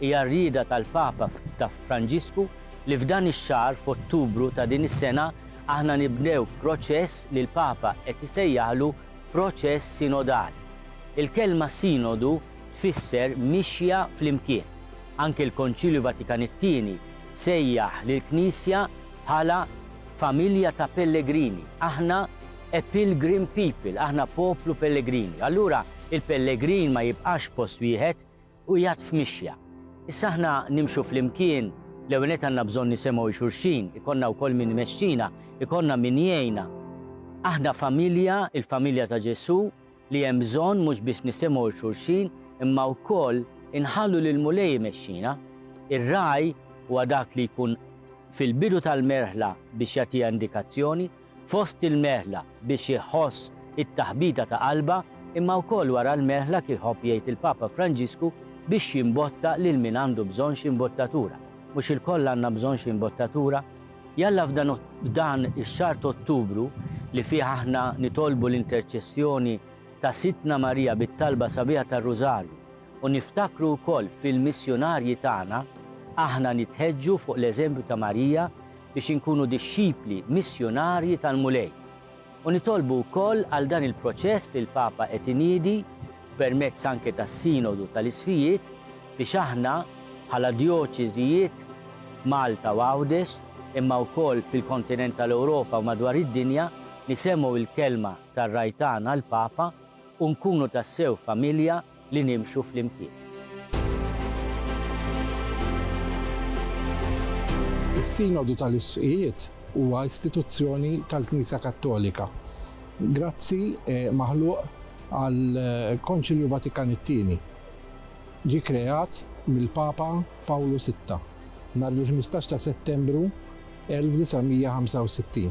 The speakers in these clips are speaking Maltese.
Hija r-rieda tal-Papa ta' Franġisku li f'dan ix-xahar, f'Ottubru ta' din is-sena, aħna nibdew proċess li l-Papa qed isejjaħlu proċess sinodali. Il-kelma sinodu tfisser mixja flimkien. Anke l-Konċilju Vatikan it-Tieni sejjaħ lill-Knisja bħala familja ta' pellegrini. Aħna a pilgrim people, aħna poplu pellegrini. Allura il-pellegrin ma jibqax f'post wieħed, Qiegħed f'mixja. Issa aħna nimxu flimkien, l-ewwel nett għandna bżonn nisemgħu 'l xulxin, ikollna wkoll min imexxina, ikollna min jgħinna. Aħna familja, il-familja ta' Ġesù, li hemm bżonn mhux biss nisemgħu 'l xulxin, imma wkoll inħallu lill-Mulej imexxina. Ir-ragħaj huwa dak li jkun fil-bidu tal-merħla biex jagħtiha indikazzjoni, Fost il-merħla biex iħoss it-taħbita ta' qalbha, imma wkoll wara l-merħla kif iħobb jgħid il-Papa Franġisku biex jimbotta lil min għandu bżonn xi mbottatura. Mhux ilkoll għandna bżonn xi mbottatura? Jalla f'dan ix-xahar t'Ottubru li fih aħna nitolbu l-interċessjoni ta' Sidtna Marija bit-talba sabiħa tar-Rużarju u niftakru wkoll fil-missjunarji tagħna, aħna nitħeġġu fuq l-eżempju ta' Marija biex inkunu dixxipli missjunarji tal-Mulej, u nitolbu wkoll għal dan il-proċess li l-Papa qed iniedi, permezz anke tas-Sinodu tal-Isqfijiet, biex aħna, bħala djoċeżijiet f'Malta u Għawdex, imma wkoll fil-kontinent tal-Ewropa u madwar id-dinja, nisemmgħu l-kelma tar-Raj tagħna, l-Papa, u nkunu tassew familja, li nimxu flimkien. Is-Sinodu tal-Isqfijiet huwa istituzzjoni tal-Knisja Kattolika. Grazzi maħluq għall-Konċilju Vatikan it-Tieni. Ġie kkreat mill-Papa Pawlu Sitta nhar il-ħmistax ta' Settembru 1965.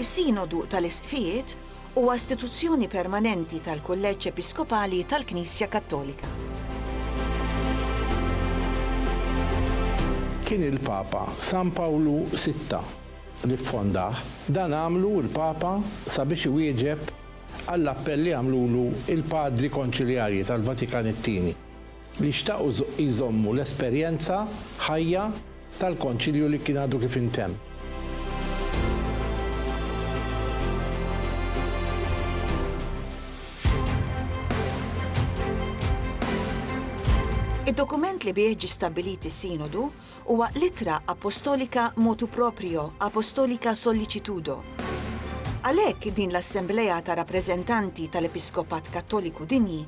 Is-Sinodu tal-Isqfijiet huwa istituzzjoni permanenti tal-Kulleġġ Episkopali tal-Knisja Kattolika. Kien il-Papa San Pawlu Sitta li ffondah, dan għamlu l-Papa sabiex iwieġeb għall-appell li għamlulu l-Padri Konċiljarji tal-Vatikan it-Tieni. li xtaqu jżommu l-esperjenza ħajja tal-Konċilju li kien għadu kif intemm. Id-dokument li bih ġie stabbilit is-Sinodu Huwa l-ittra appostolika motu proprio, apostolica sollicitudo. Għalhekk din l-assemblea ta' rappreżentanti tal-Episkopat Kattoliku Dinji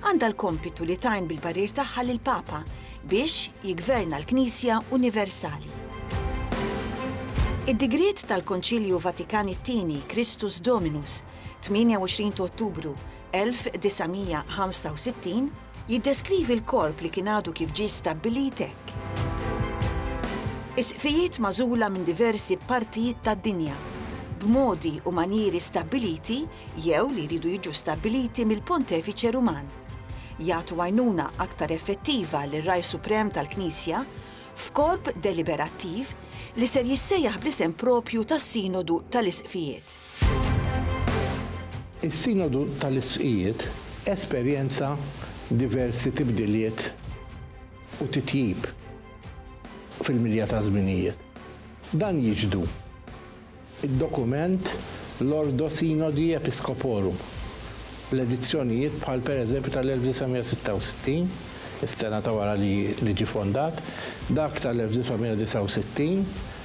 għandha l-kompitu li tgħin bil-parir tagħha lill-Papa biex jiggverna l-Knisja universali. Id-digriet tal-Konċilju Vatikan it-Tieni Christus Dominus, 28 t'Ottubru 1965, Jiddeskrivi l-korp li kien għadu kif ġie stabbilit hekk. Is-sqfijiet magħżula minn diversi partijiet tad-dinja, b'modi u manjieri stabbiliti jew li jridu jiġu stabbiliti mill-Pontefiċe Ruman, jagħtu għajnuna aktar effettiva lir-Ragħaj Suprem tal-Knisja f'korp deliberattiv li ser jissejjaħ bl-isem proprju tas-Sinodu tal-Isqfijiet. Is-Sinodu tal-Isqfijiet esperjenza diversi tibdiliet u titjib fil-milja taż-żminijiet. Dan jixhdu d-dokument l-Ordo Synodi Episcoporum, l-edizzjonijiet bħal pereżempju tal-1966, is-sena ta' wara li ġie fondat, dak tal-1969,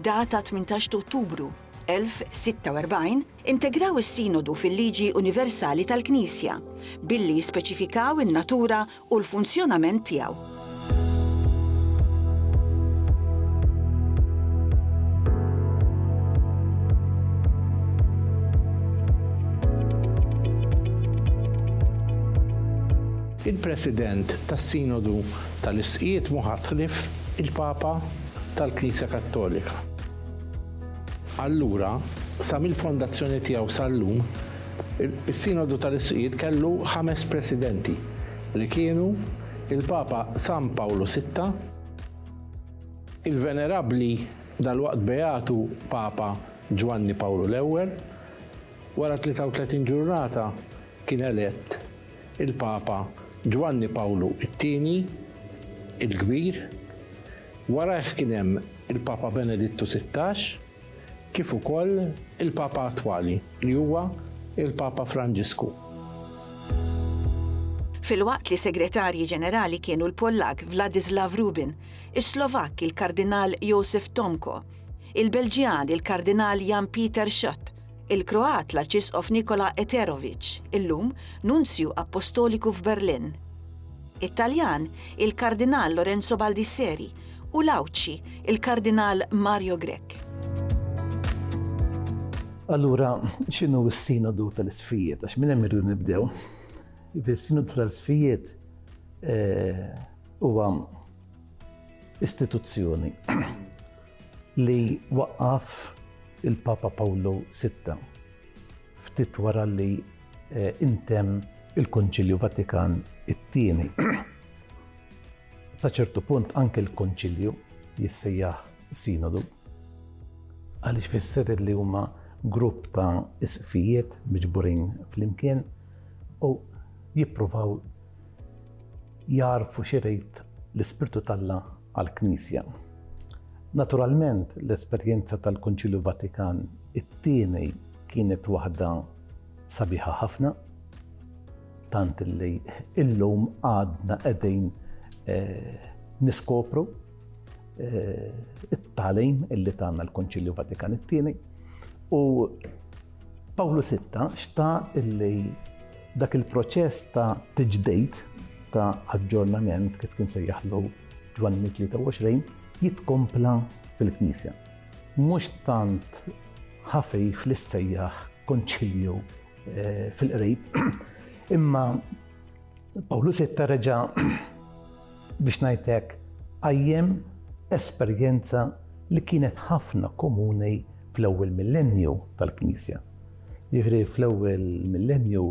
data 18 t'Ottubru 1046, integraw is-Sinodu fil-liġi universali tal-Knisja, billi jispeċifikaw in-natura u l-funzjonament tiegħu. Il-President tas-Sinodu tal-Isqjiet mhu ħadd ħlief il-Papa. tal-Knisja Kattolika. Allura, sa mill-fondazzjoni tiegħu sal-lum, is-Sinodu tal-Isqfijiet kellu ħames presidenti, li kienu il-Papa San Pawlu Sitta, il-Venerabbli dalwaqt Beatu Papa Ġwanni Pawlu l-Ewwel, wara 33 ġurnata kien elett il-Papa Ġwanni Pawlu t-Tieni il-Kbir, warajh kien hemm il-Papa Benedittu Sittax, kif ukoll il-Papa attwali li huwa l-Papa Franġisku. Filwaqt li Segretarji Ġenerali kienu l-Pollakk Vladislav Rubin, is-Slovakk il-Kardinal Josef Tomko, il-Belġjan il-Kardinal Jan Pieter Schott, il-Kroat l-Arċisqof Nikola Eteroviċ, illum Nunzju Appostoliku f'Berlin, it-Taljan il-Kardinal Lorenzo Baldisseri u l-Għawdxi il-Kardinal Mario Grech. Allura, x'inhu s-Sinodu tal-Isfijiet? Għax minn hemm irridu nibdew. Is-Sinodu tal-Isfijiet eh, huwa istituzzjoni li waqqaf il-Papa Pawlu Sitta ftit wara li ntemm il-Konċilju Vatikan it-Tieni. Sa ċertu punt anke l-Konċilju jissejjaħ Sinodu għaliex fisser li huma grupp ta' isqfijiet miġburin flimkien u jippruvaw jarfu xi rid l-Ispirtu t'Alla għall-Knisja. Naturalment, l-esperjenza tal-Kunċilju Vatikan it-Tieni kienet waħda sabiħa ħafna, tant li illum għadna qegħdin eh, niskopru eh, it-talim illi tagħna l-Kunċilju Vatikan it-Tieni u Pawlu Sitta xta illi Dak il-proċess ta' tiġdejt, ta' aġġornament kif kien sejjaħlu Ġwanni 23, jitkompla fil-Knisja. Mhux tant ħafif li ssejjaħ konċilju eh, fil-qrib, imma Pawlu Sitta reġa' biex ngħid hekk, qajjem esperjenza li kienet ħafna komuni fl-ewwel millennju tal-Knisja. Jiġifieri fl-ewwel millennju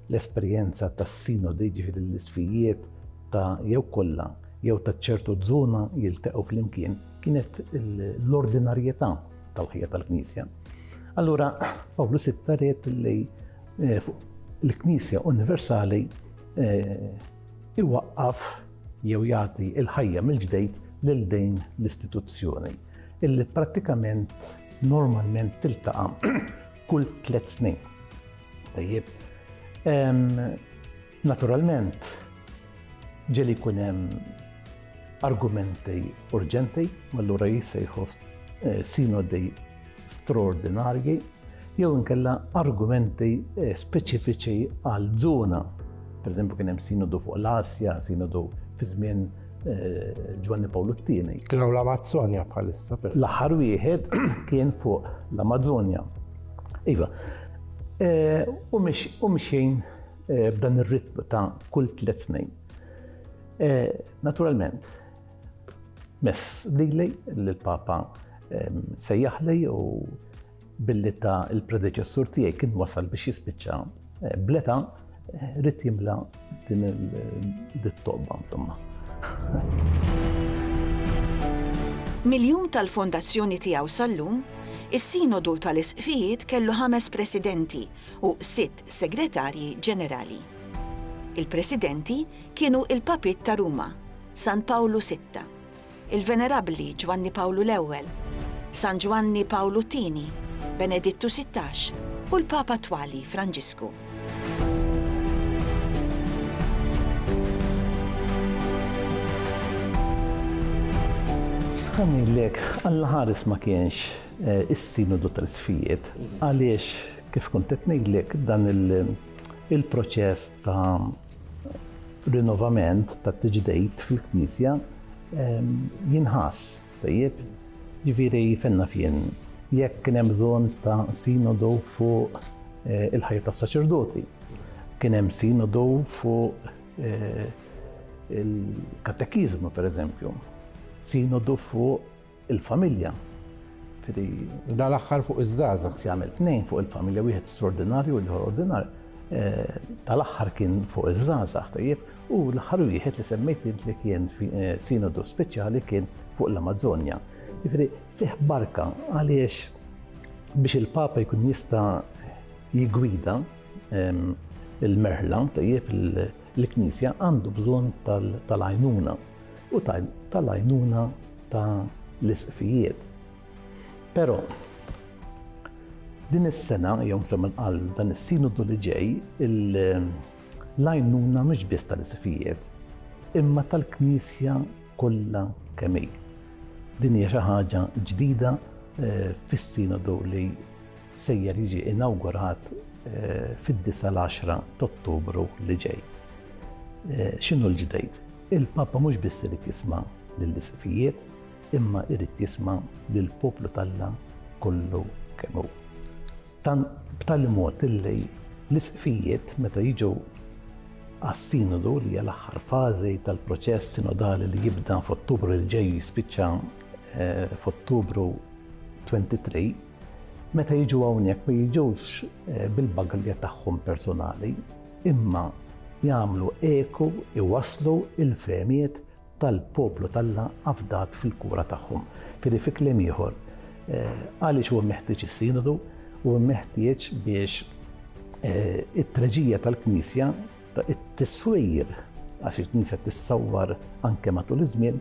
l-esperjenza tas-sinodi, jiġifieri l-isfijiet ta' jew kollha jew ta' ċertu żona jiltaqgħu flimkien, kienet l-ordinarjetà tal-ħajja tal-Knisja. Allura, Pawlu sitta ried li eh, l-Knisja Universali eh, iwaqqaf jew jagħti l-ħajja mill-ġdejt lil din l-istituzzjoni illi prattikament normalment tiltaqa' kull tliet snin. Tajjeb. Naturalment, ġeli jkun hemm argumenti urġenti, allura jissejħu eh, sinodi straordinarji, jew inkella argumenti eh, speċifiċi għal żona. Per eżempju, kien hemm sinodu fuq l-Asja, sinodu fi żmien eh, Ġwanni Pawlu t-tieni. Kien hawn l-Amazzonja bħalissa. L-aħħar wieħed kien fuq l-Amazzonja. Iva, u mxejn b'dan ir-ritmu ta' kull tliet snin. Eh, naturalment, mess lili l-Papa ehm, sejjaħli u billi ta' il-predeċessur tiegħi kien wasal biex jispiċċa eh, bleta eh, rrit jimla din il-tobba, insomma. Miljum tal-fondazzjoni tiegħu sal-lum, is-sinodu tal-isqfijiet kellu ħames presidenti u sitt segretarji ġenerali. Il-presidenti kienu il-Papiet ta' Ruma, San Pawlu Sitta, il-Venerabbli Ġwanni Pawlu l-Ewwel, San Ġwanni Pawlu t-Tieni, Benedittu Sittax u l-Papa attwali Franġisku. Ħa ngħidlek, Alla ħares ma kienx eh, is-Sinodu tal-Isfijiet għaliex kif kont qed ngħidlek dan il-proċess ta' rinnovament tat-tiġdejt fil-Knisja jinħass, tajjeb, ġifieri fejn naf jien, jekk kien hemm bżonn ta' sinodu fuq eh, il-ħajja tas-saċerdoti, kien hemm sinodu fuq eh, il-katekiżmu pereżempju, sinodu fuq il-familja. Da l-aħħar fuq iż-żgħażagħ. Si għamel tnejn fuq il-familja wieħed straordinarju u l-ieħor ordinarju. Eh, tal-aħħar kien fuq iż-żgħażagħ tajjeb u l-aħħar wieħed li semmejt li kien eh, sinodu speċjali kien fuq l-Amazzonja. Jiġifieri fih barka għaliex biex il-Papa jkun jista' jigwida ehm, il-merħla tajjeb il- l-Knisja għandu bżonn tal-għajnuna. u tal-għajnuna ta' l-isqfijiet. Però, din is-sena, jew semmen għal dan is-sinodu li ġej, l-għajnuna mhux biss tal-isqfijiet, imma tal-Knisja kollha kemm hi. Din hija xi ħaġa ġdida eh, fis-sinodu li Sejjer jiġi inawgurat fid-disa' l-għaxra t'Ottubru li ġej. X'inhu l-ġdejt? Il-Papa mhux biss irid jisma' lill-Isifijiet, imma jrid jisma' lill-poplu t'Alla kollu kemm hu. Tant b'tali mod illi l-Isifijiet meta jiġu għas-Sinodu li hija l-aħħar fażi tal-proċess sinodali li jibda f'Ottubru li ġej u jispiċċa f'Ottubru 23, Meta jiġu hawnhekk ma jiġux eh, bil-bagalja tagħhom personali, imma jagħmlu eku iwaslu il-femiet tal-poplu tal-la afdat fil-kura tagħhom. Kiri fi kliem ieħor, eh, għaliex huwa meħtieġ is-sinodu u meħtieġ biex eh, it-treġija tal-Knisja it-tiswir għax il-Knisja tissawwar anke matul iż-żmien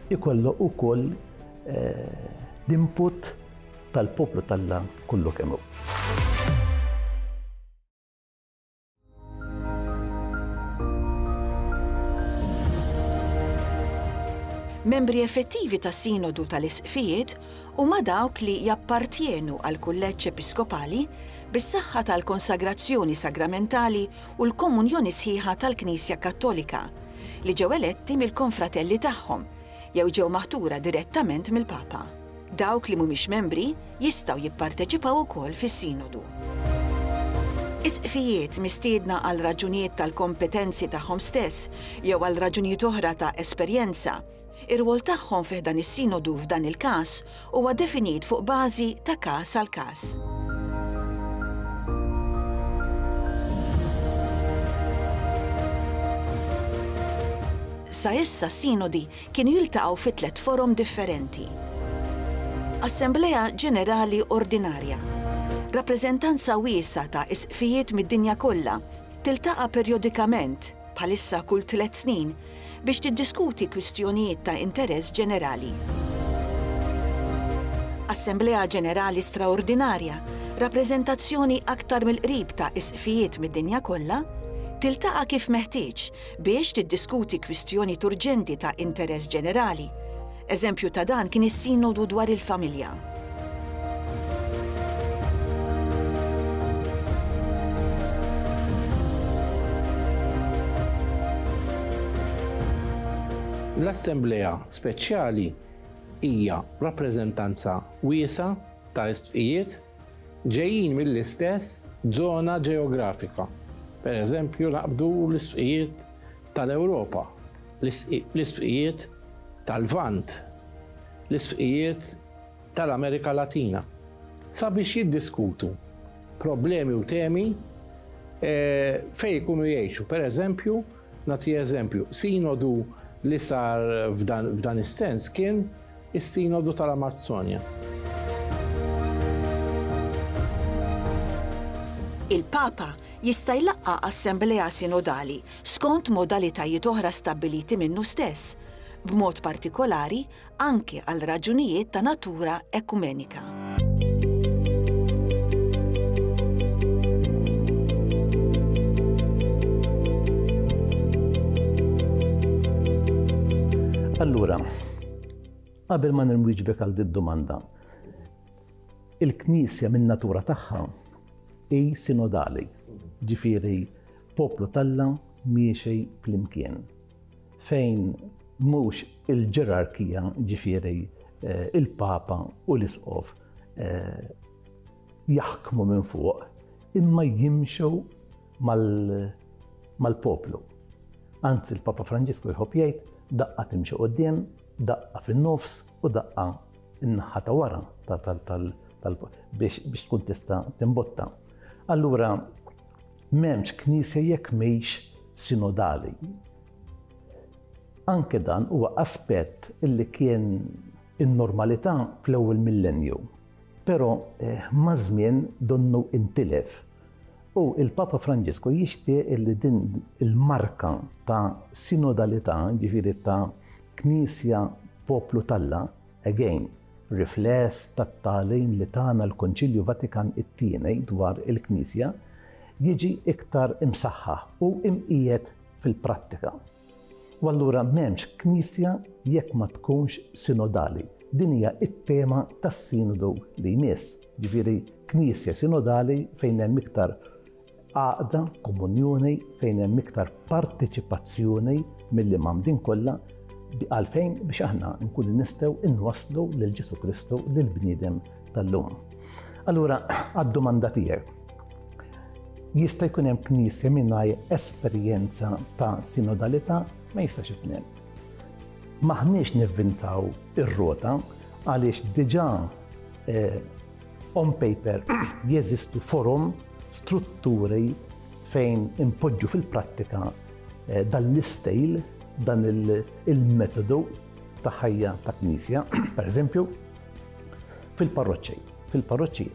Ikollu ukoll l-input tal-poplu t'Alla kollu kemm hu. Membri effettivi tas-Sinodu tal-Isqfijiet huma dawk li jappartjenu għall-Kulleġġ Episkopali bis-saħħa tal-konsagrazzjoni sagramentali u l-komunjoni sħiħa tal-Knisja Kattolika, li ġew eletti mill-konfratelli tagħhom jew ġew maħtura direttament mill-Papa. Dawk li mhumiex membri jistgħu jipparteċipaw ukoll fis-Sinodu. Isqfijiet mistiedna għal raġunijiet tal-kompetenzi tagħhom stess jew għal raġunijiet oħra ta' esperjenza, Ir-rwol tagħhom fi ħdan is-Sinodu f'dan il-każ huwa definit fuq bażi ta' każ għal każ. Sa issa s-Sinodi kienu jiltaqgħu fi tliet forom differenti. Assemblea Ġenerali Ordinarja. Rappreżentanza wiesa' ta' isqfijiet mid-dinja kollha tiltaqa' perjodikament bħalissa kull tliet snin, biex tiddiskuti kwistjonijiet ta' interess ġenerali. Assemblea Ġenerali Straordinarja, rappreżentazzjoni aktar mill-qrib ta' Isqfijiet mid-dinja kollha, tiltaqa' kif meħtieġ biex tiddiskuti kwistjonijiet urġenti ta' interess ġenerali, Eżempju ta' dan kien is-Sinodu dwar il-Familja. L-Assemblea Speċjali hija rappreżentanza wiesgħa ta' istqfijiet ġejjin mill-istess żona ġeografika. Pereżempju, naqbdu l-istqfijiet tal-Ewropa, l-isqfijiet tal-Lvant, l-isqfijiet tal-Amerika Latina sabiex jiddiskutu problemi u temi fejn ikunu jgħixu. Per eżempju, nagħti eżempju, sinodu li sar f'dan is-sens kien is-Sinodu tal-Amazzonja. Il-Papa jista' jlaqqa' assemblea sinodali skont modalitajiet oħra stabbiliti minnu stess, b'mod partikolari anke għal raġunijiet ta' natura ekumenika. Allura, qabel ma nirmwiġbek għal din domanda il-Knisja minn natura tagħha hi sinodali. Ġifieri Poplu t'Alla miexi flimkien, fejn mhux il-ġerarkija, ġifieri l-Papa u l-Isqof, jaħkmu minn fuq, imma jimxu mal-poplu. Anzi, l-Papa Franġisku jħobb jgħid, daqqa timxi quddiem, daqqa fin-nofs u daqqa n-naħa ta' wara biex tkun tista' timbotta. Allura, M'hemmx Knisja jekk mhix sinodali. Anke dan huwa aspett li kien in-normalità fl-ewwel millennju, però maż-żmien donnu intilef. U l-Papa Franġisku jixtieq li din il-marka ta' sinodalità, jiġifieri ta' Knisja poplu t'Alla, Again, rifless tat-tagħlim li tana l-Konċilju Vatikan it-Tieni dwar il-Knisja jiġi iktar imsaħħaħ u imqiegħed fil-prattika. U allura m'hemmx Knisja jekk ma tkunx sinodali. Din hija t-tema tas-Sinodu li jmiss, ġifieri Knisja sinodali fejn hemm iktar Għaqda, komunjoni fejn hemm iktar parteċipazzjoni milli mamdin kollha għalfejn biex aħna nkunu nistgħu inwasslu lil Ġesu Kristu lil bniedem tal-lum. Allura, għad-domanda tiegħek. Jista' jkun hemm knisja mingħajr esperjenza ta' sinodalità ma jistax ikun hemm. Maħniex nivvintaw ir-rota għaliex diġà eh, On paper jeżistu forom, strutturi fejn inpoġġu fil-prattika eh, dan l-istejl, dan il-metodu ta' ħajja ta' knisja, per eżempju, fil-parroċċi. Fil-parroċċi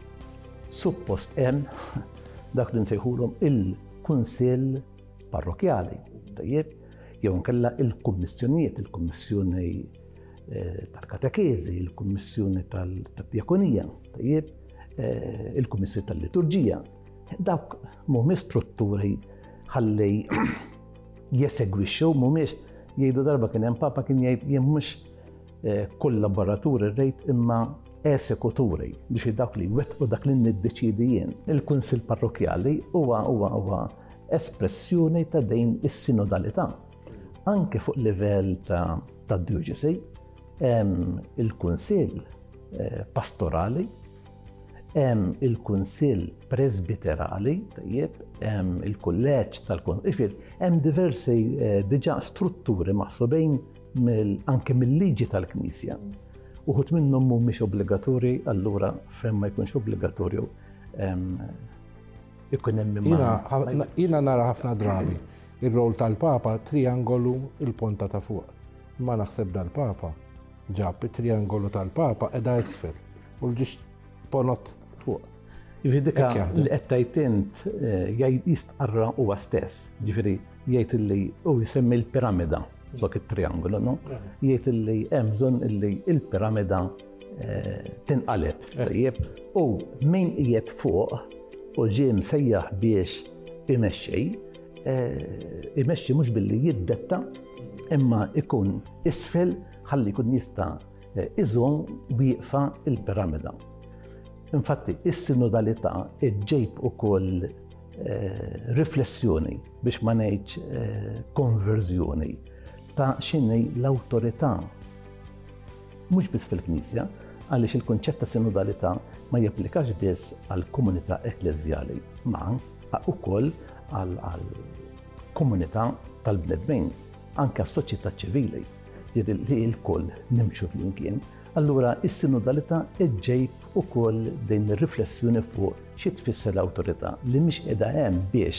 suppost hemm dak li nsejħulhom il-kunsill parrokjali, tajjeb, jew inkella il-kummissjonijiet, il-kummissjoni eh, tal-katekeżi, il-kummissjoni tal-djakonija, tajjeb, eh, il-kummissjoni tal-liturġija. Dawk mhumiex strutturi ħalli jesegwixxu, mhumiex jgħidu darba kien hemm papa kien jgħid jien mhux eh, kollaboraturi rejt imma esekuturi biex dawk li wetqu dak li niddeċidi jien. Il-Kunsil Parrokjali huwa huwa huwa espressjoni ta' din is-sinodalità anke fuq livell ta' dioċesi, il-Kunsill eh, Pastorali, il-Kunsill Presbiterali, tajjeb, il-Kulleġġ tal-Kunsill, hemm diversi eh, diġà strutturi maħsubin anke mill-liġi tal-Knisja. Uħut minnhom mhumiex obbligatorji, allura fejn ma jkunx obbligatorju Ikun hemm min ma. Jiena- Jiena nara ħafna drabi ir-roll tal-Papa triangolu il-ponta ta' fuq. Imma naħseb dal-Papa ġab it-triangolu tal-Papa qiegħda isfel u l-ġiex ponot fuq. Jiġifieri dik Hekk jaħdem. li qed tgħid int eh, jgħid jistqarra huwa stess. Jiġifieri jgħid illi u jsemmi l-piramida flok it-triangolu, no? Jgħid illi hemm bżonn illi l-piramida tinqaleb. Tajjeb, u min qiegħed fuq u ġie msejjaħ biex imexxi, eh, imexxi mhux billi jiddetta imma ikun isfel ħalli jkun jista' eh, iżom wieqfa il-piramida. Infatti, is-sinodalità ġejb ukoll eh, riflessjoni biex ma ngħidx konverżjoni ta' xinni l-awtorità Mhux biss fil-Knisja, għaliex il-kunċett ta' sinodalità ma japplikax biss għall-komunità ekkleżjali, ma ukoll għall-komunità tal-bnedmin, anke għas-soċjetà ċivili, jiġifieri li lkoll nimxu flimkien. Allura s-sinodalità ġġejb ukoll din ir-riflessjoni fuq xi tfisser l-awtorità li mhix qiegħda hemm biex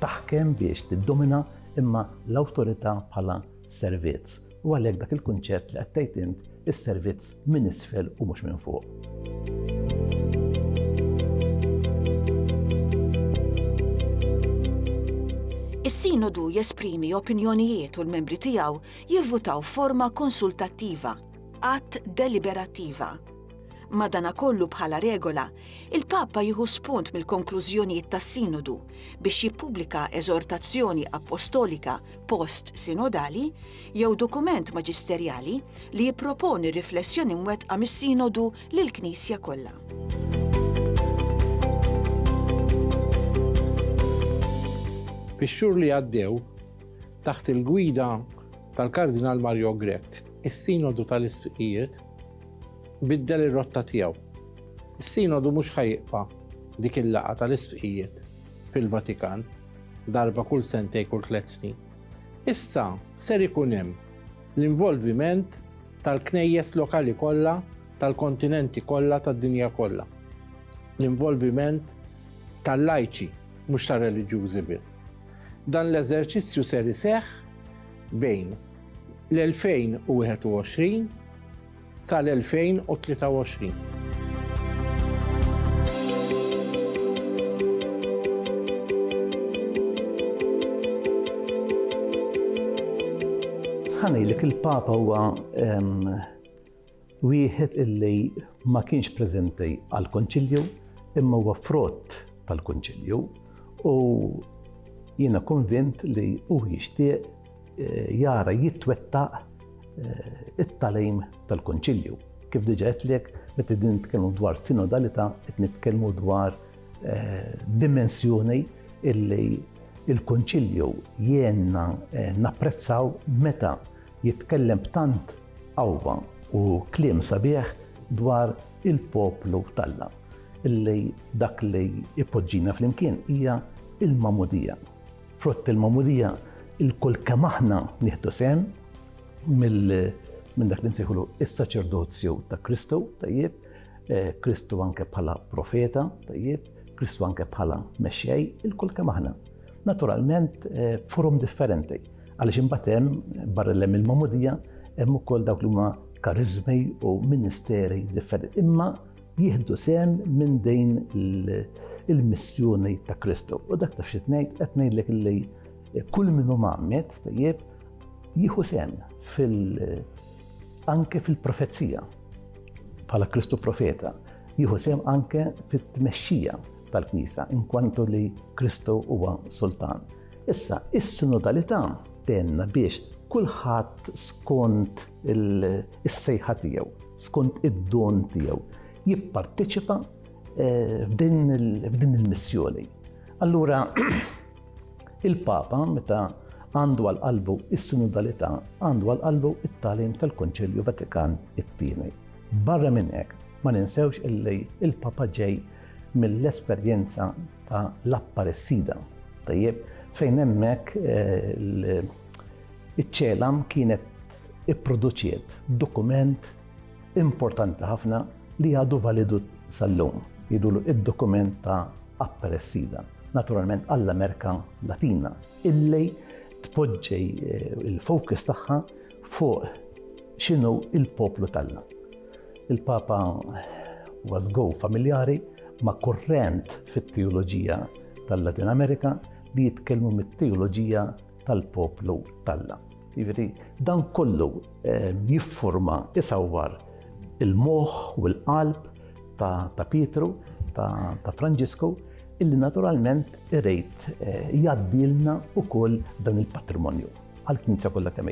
taħkem, biex tiddomina, imma l-awtorità bħala servizz u għalhekk dak il-kunċett li qed tgħid int is-servizz minn isfel u mhux minn fuq. Is-Sinodu jesprimi opinjonijiet u l-membri tiegħu jivvutaw forma konsultattiva, att deliberattiva. Madana kollu bħala regola, il-Papa jieħu spunt mill-konklużjonijiet tas-Sinodu biex jippubblika eżortazzjoni apostolika post sinodali jew dokument maġisterjali li jipproponi riflessjoni mwettqa mis-Sinodu lill-Knisja kollha. Fix-xhur li għaddew, taħt il-gwida tal-Kardinal Mario Grech, is-Sinodu tal-Isfiqijiet biddel ir-rotta tiegħu. Is-Sinodu mhux ħajqfa' dik il-laqgħa tal-Isfiqijiet. fil-Vatikan darba kull sentej kull tliet snin. Issa ser ikun hemm l-involviment tal-knejjes lokali kollha tal-kontinenti kollha tad-dinja kollha. L-involviment tal-lajċi mhux ta' reliġjużi biss. Dan l-eżerċizzju ser iseħħ bejn l-2021 sal-2023. Ħa ngħidlek il-Papa huwa wieħed illi ma kienx preżenti għall-Kunċilju imma huwa frott tal-Kunċilju u jiena konvint li hu jixtieq jara jitwettaq it-talejm tal-Konċilju. Kif diġa għetlek, meta din nitkellmu dwar sinodalità, qed nitkellmu dwar eh, dimensjoni illi il-konċilju jenna eh, napprezzaw meta jitkellem b'tant qawwa u kliem sabiħ dwar il-poplu talla illi dak li ipoġġina fl-imkien hija il-mamudija. Frott il-magħmudija il-kull kemm aħna nieħdu sehem minn dak li nsejħulu is-saċerdozju ta' Kristu, tajjeb, eh, Kristu anke bħala profeta, tajjeb, Kristu anke bħala mexxej, il-kull kemm aħna. Naturalment eh, forum differenti, għaliex imbagħad hemm barra l il-magħmudija hemm ukoll dawk li huma karizmi u ministeri differenti. Imma jieħdu sehem minn din il-missjoni ta' Kristu. U dak taf xi tnejn qed ngħidlek li kull min hu magħmed tajjeb jieħu sehem fil anke fil-profezija bħala Kristu profeta, jieħu sehem anke fit-tmexxija tal-Knisja inkwantu li Kristu huwa sultan. Issa, is-sinodalità tenna biex kulħadd skont is-sejħa tiegħu, skont id-don tiegħu, jipparteċipa eh, f'din il-missjoni. Allura, il-Papa, meta għandu għal qalbu is-sinodalità, għandu għal qalbu it-talim tal-Konċilju Vatikan it-tieni. Barra minn hekk, ma ninsewx illi il-Papa ġej mill-esperjenza ta' l-apparessida. Tajjeb, fejn hemmhekk eh, Iċ-CELAM kienet ipproduċiet dokument importanti ħafna li għadu validu sal-lum, jgħidulu id-dokument ta' Apparecida, naturalment għall-Amerika Latina, illi tpoġġi l-focus tagħha fuq x'inhu l-poplu t'Alla. Il-Papa was go familjari ma' kurrent fit-teoloġija tal-Latin Amerika li jitkellmu mit-teoloġija tal-poplu t'Alla. Jiġifieri dan kollu eh, jiffurma isawwar il-moħħ u l-qalb ta' Pietru, ta' Franġisku, illi naturalment irejt eh, jgħaddilna ukoll dan il-patrimonju għal-Knisja kollha kemm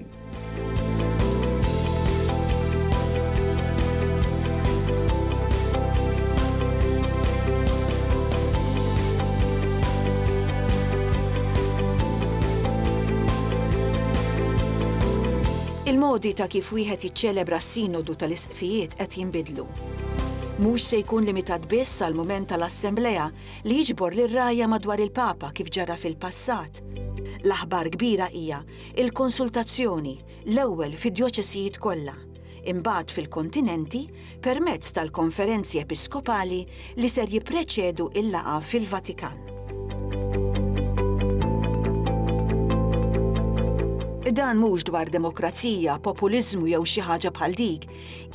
Il-modi ta' kif wieħed jiċċelebra s-Sinodu tal-Isqfijiet qed jinbidlu. Mhux se jkun limitat biss għall-mument tal-Assemblea li jiġbor lir-rgħajja madwar il-Papa kif ġara fil-passat. L-aħbar kbira hija il-konsultazzjoni, l-ewwel fid-djoċesijiet kollha, imbagħad fil-kontinenti permezz tal-konferenzi episkopali li ser jippreċedu l-laqgħa fil-Vatikan. Dan mhux dwar demokrazija, populiżmu jew xi ħaġa bħal dik,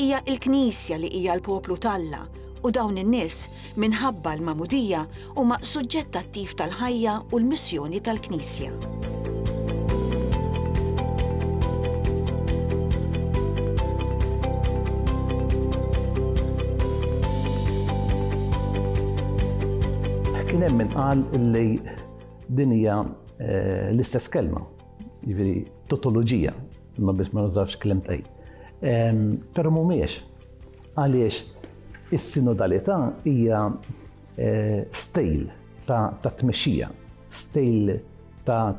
hija l-Knisja li hija l-poplu t'Alla u dawn in-nies minħabba l-Magħmudija huma suġġett attiv tal-ħajja u l-missjoni tal-Knisja. kien hemm min qal li din hija eh, l-istess kelma, jiġifieri totoloġija, ma biss ma nażafx kelm tgħid. Però mhumiex, Għaliex is-sinodalità hija stejl ta' tmexxija, stejl ta'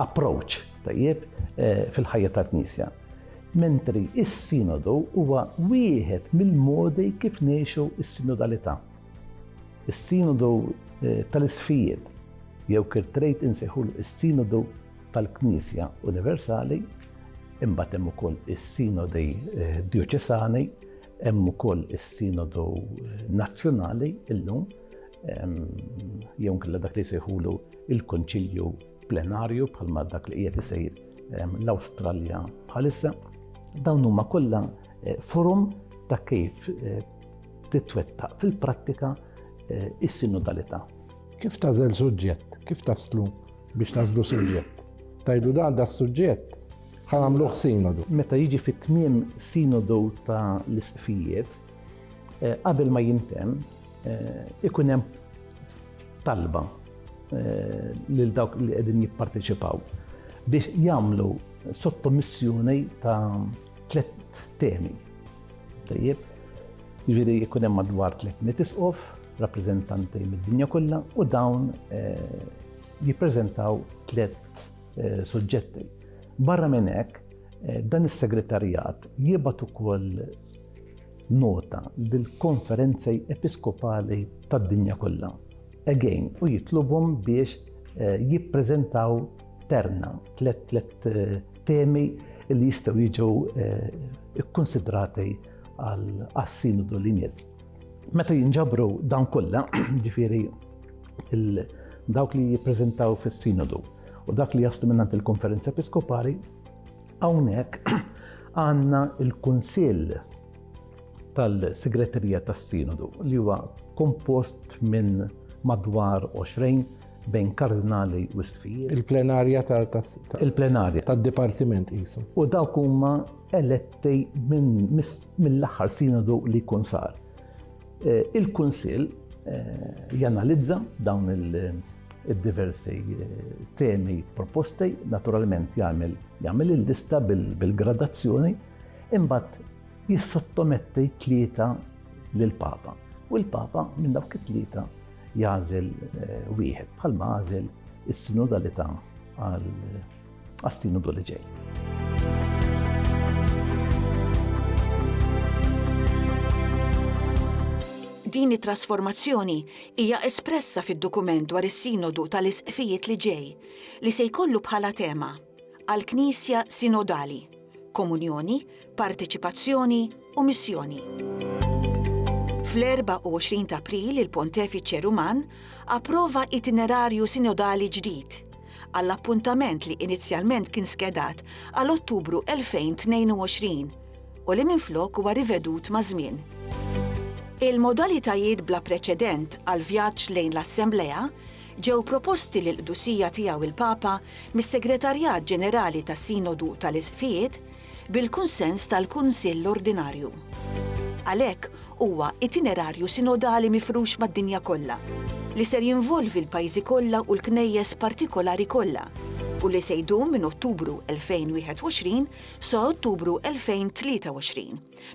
approach tajjeb fil-ħajja tal-Knisja. Mentri s-Sinodu huwa wieħed mill-modi kif ngħixu s-sinodalità. Is-Sinodu tal-Isfijiet, jew kif trid insejħulu s-Sinodu tal-Knisja Universali, imbagħad hemm ukoll is-Sinodi Djoċesani, hemm ukoll is-Sinodu Nazzjonali illum, jew nkella dak li jsejħulu il-Konċilju Plenarju bħalma dak li qiegħed isejr l-Awstralja bħalissa. Dawn huma kollha eh, forum ta' kif eh, titwettaq fil-prattika eh, is-sinodalità. Kif tażel suġġett? Kif taslu biex tażlu suġġett. Tajdu dan da suġġett ħan għamluħ sinodu. Meta jiġi fit tmiem sinodu ta' l-isqfijiet, eh, qabel ma jintem, eh, ikun hemm talba eh, lil dawk li qegħdin jipparteċipaw biex jagħmlu sottomissjoni ta' tliet temi. Tajjeb, jiġifieri jkun hemm madwar 300 isqof, rappreżentanti mid-dinja kollha u dawn eh, jippreżentaw tliet eh, suġġetti. Barra minn hekk, eh, dan is-segretarjat jibgħat ukoll nota lill konferenzi episkopali tad-dinja kollha. Again, u jitlubhom biex jippreżentaw terna, tlet Temi li jistgħu jiġu kkunsidrati għas-sinodu li jmiss. Meta jinġabru dawn kollha, ġifieri dawk li jippreżentaw fis-sinodu u dak li jaslu minnant il-konferenza episkopali, hawnhekk għandna il-kunsill tal-segreterija tas-sinodu li huwa kompost minn madwar 20 bejn kardinali u stfijiet. Il-plenarja ta' il-plenarja tad-dipartiment qisu. U dawk huma eletti minn mill-aħħar sinodu li jkun sar. Eh, Il-Kunsill eh, janalizza dawn il-diversi eh, temi proposti, naturalment jagħmel jagħmel il-lista bil-gradazzjoni, imbagħad jissottometti tlieta lill-Papa. U l-Papa minn dawk it-tlieta jagħżel wieħed bħalma għażel is-sinodalità għal għas-sinodu li ġej. Din it-trasformazzjoni hija espressa fid-dokument dwar is-Sinodu tal-Isqfijiet li ġej, li se jkollu bħala tema għal Knisja Sinodali, Komunjoni, Parteċipazzjoni u Missjoni. Fl-24 ta' April il-Pontefiċe Ruman approva itinerarju sinodali ġdid għall-appuntament li inizjalment kien skedat għal Ottubru 2022 u li minflok huwa rivedut maż-żmien. Il-modalitajiet bla preċedent għall-vjaġġ lejn l-Assemblea ġew proposti lill-Qdusija Tiegħu il-Papa mis-Segretarjat Ġenerali tas-Sinodu tal-Isqfijiet bil-kunsens tal-Kunsill Ordinarju. Għalhekk, huwa itinerarju sinodali mifrux mad-dinja kollha, li ser jinvolvi l-pajjiżi kollha u l-Knejjes partikolari kollha u li se jdum minn Ottubru 2021 sa Ottubru 2023.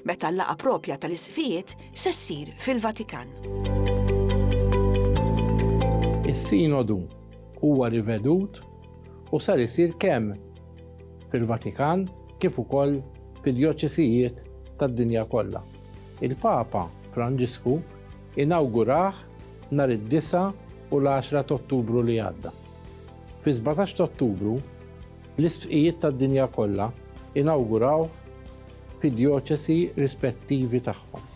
meta l-laqgħa proprja tal-isqfijiet se ssir fil-Vatikan. Is-Sinodu huwa rivedut u ser isir kemm fil-Vatikan kif ukoll fid-djoċesijiet tad-dinja kollha. Il-Papa Franġisku inawgurah nhar id-disgħa u l-għaxra t'Ottubru li għadda. Fis-sbatax t'Ottubru, l-isqfijiet tad-dinja kollha inawgurawh fid-djoċesi rispettivi tagħhom.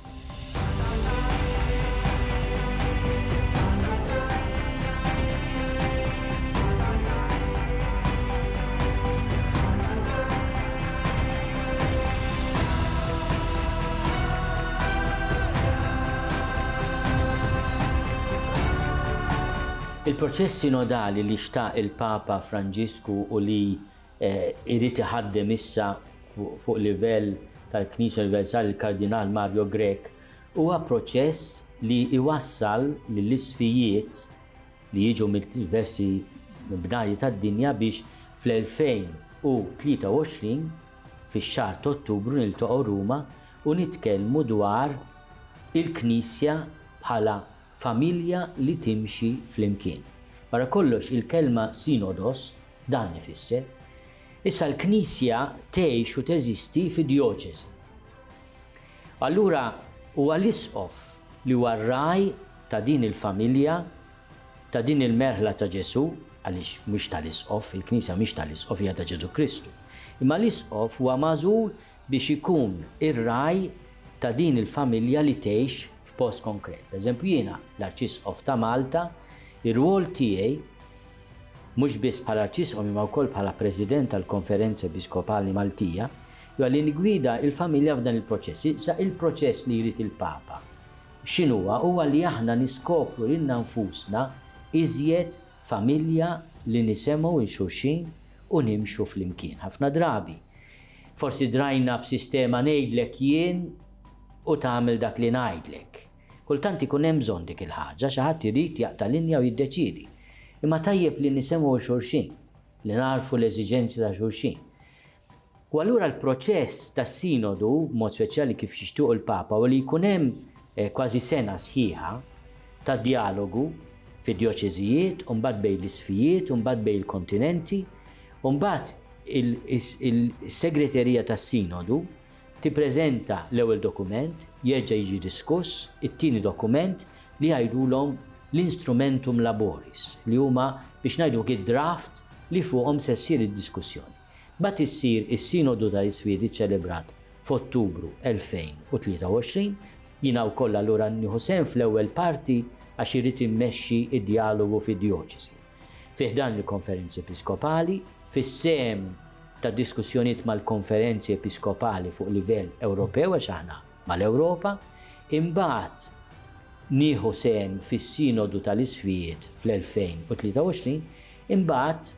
Il-proċess sinodali li xtaq il-Papa Franġisku u li Irid iħaddem issa fuq livell tal-Knisja Universali l-Kardinal Mario Grech huwa proċess li jwassal lill-isfijiet li jiġu mid-diversi bnadi tad-dinja biex fl-2023 fix-xahar t'Ottubru niltaqgħu Ruma u nitkellmu dwar il-Knisja bħala familja li timxi flimkien. Wara kollox il-kelma sinodos dan ifisser. Issa l-Knisja tgħix u teżisti fi djoċesi. Allura huwa l-Isqof li huwa r-ragħaj ta' din il-familja, ta' din il-merħla ta' Ġesù, għaliex mhix tal-Isqof, il-Knisja mhix tal-Isqof hija ta' Ġesù Kristu. Imma l-Isqof huwa magħżul biex ikun ir-ragħaj ta' din il-familja li tgħix, f'post konkret. Pereżempju jiena, l-Arċisqof ta' Malta, ir-rwol tiegħi mhux biss bħala Arċisqof imma wkoll bħala President tal-Konferenza Episkopali Maltija, huwa li niggwida l-familja f'dan il-proċess. Issa il-proċess li jrid il-Papa x'inhuwa? Huwa li aħna niskopru lilna nfusna iżjed familja li nisemgħu 'l xulxin u nimxu flimkien. Ħafna drabi, Forsi drajna b'sistema ngħidlek jien u tagħmel dak li ngħidlek. Kultant ikun hemm bżonn dik il-ħaġa, xi ħadd irid jaqta' linja u jiddeċiedi. Imma tajjeb li nisemgħu 'l xulxin, li nagħrfu l-eżiġenzi ta' xulxin. U allura l-proċess tas-Sinodu, b'mod speċjali kif jixtiequ l-Papa, huwa li jkun hemm kważi sena sħiħa ta' djalogu fid-djoċeżijiet u mbagħad bejn l-isfijiet u mbagħad bejn il-kontinenti, U mbagħad is-Segreterija tas-Sinodu tippreżenta l-ewwel dokument, jerġa' jiġi diskuss it-tieni dokument li jgħidulhom l-instrumentum laboris, li huma biex ngħidulk id-draft li fuqhom se ssir id-diskussjoni. Mbagħad issir is-Sinodu tal-Isfidi ċċelebrat f'Ottubru 2023. Jiena wkoll allura nieħu sehem fl-ewwel parti għax irrid immexxi d-djalogu fid-djoċesi. fi ħdan il-Konferenzi Episkopali, fis-sehem ta' diskussjonijiet mal-Konferenzi Episkopali fuq livell Ewropew, għax aħna mal-Ewropa, imbagħad nieħu sehem fis-Sinodu tal-Isqfijiet fl-2023, imbagħad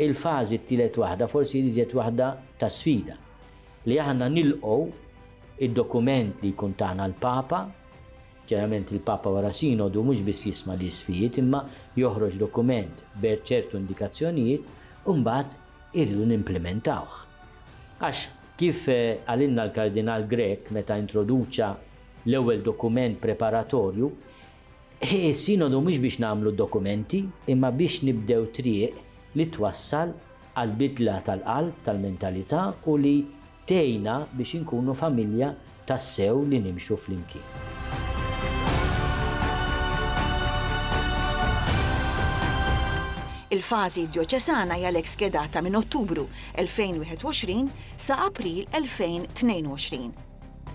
il-fażi t-tielet waħda forsi l-iżjed waħda ta' sfida, li aħna nilqgħu d-dokument li jkun tana l-Papa Ċarament il-Papa wara Sinodu mhux biss jisma' l-isqfijiet imma joħroġ dokument b'er ċertu indikazzjonijiet u mbagħad irridu nimplimentawh. Għax kif qalilna l-Kardinal Grech meta introduċa l-ewwel dokument preparatorju, is-Sinodu mhux biex nagħmlu d-dokumenti imma biex nibdew triq li twassal għall-bidla tal-qalb, tal-mentalità u li Tgħinna biex inkunu familja tassew li nimxu flimkien. Il-fażi djoċesana hija l-hekk skedata minn Ottubru 2021 sa April 2022,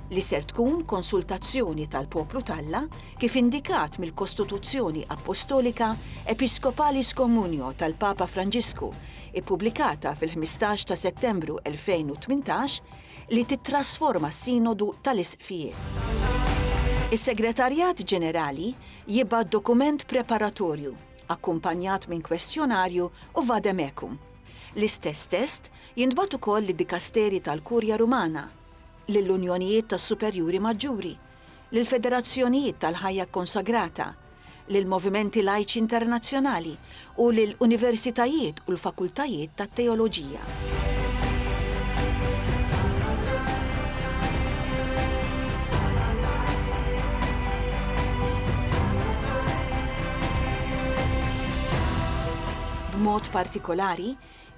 li ser tkun konsultazzjoni tal-poplu t'Alla kif indikat mill-Kostituzzjoni Appostolika Episcopalis Communio tal-Papa Franġisku ippubblikata fil-15 ta' Settembru 2018, li tittrasforma s-Sinodu tal-Isqfijiet. Is-Segretarjat Ġenerali jibgħat dokument preparatorju, akkumpanjat minn kwestjonarju u vade mecum. L-istess test jintbagħat ukoll lid-dikasterji tal-Kurja Rumana, lill-Unjonijiet tas-Superjuri Maġġuri, lill-Federazzjonijiet tal-Ħajja Kkonsagrata, lill-movimenti lajċi internazzjonali u lil universitajiet u l-fakultajiet tat-teoloġija. B'mod partikolari,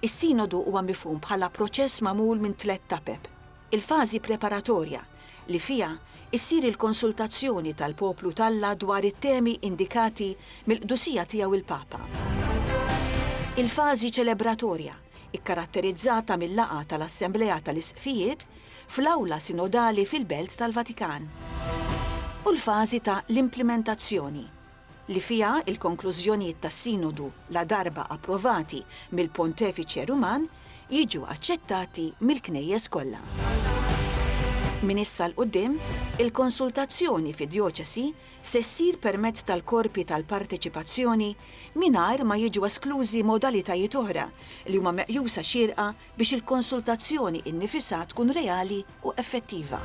is-Sinodu huwa mifhum bħala proċess magħmul minn tliet tapep. Il-fażi preparatorja, li fiha ssir il-konsultazzjoni tal-poplu t'Alla dwar it-temi indikati mill-Qdusija Tiegħu l-Papa. Il-fażi ċelebratorja, ikkaratterizzata mil-laqgħa tal-Assemblea tal-Isqfijiet fl-Awla Sinodali fil-Belt tal-Vatikan. U l-fażi ta' l-implimentazzjoni, li fiha l-konklużjonijiet tas-Sinodu, ladarba approvati mill-Pontefiċe Ruman, jiġu aċċettati mill-Knejjes kollha. Minn issa 'l quddiem, il-konsultazzjoni fid-djoċesi se ssir permezz tal-korpi tal-parteċipazzjoni mingħajr ma jiġu esklużi modalitajiet oħra li huma meqjusa xierqa biex il-konsultazzjoni innifisha tkun reali u effettiva.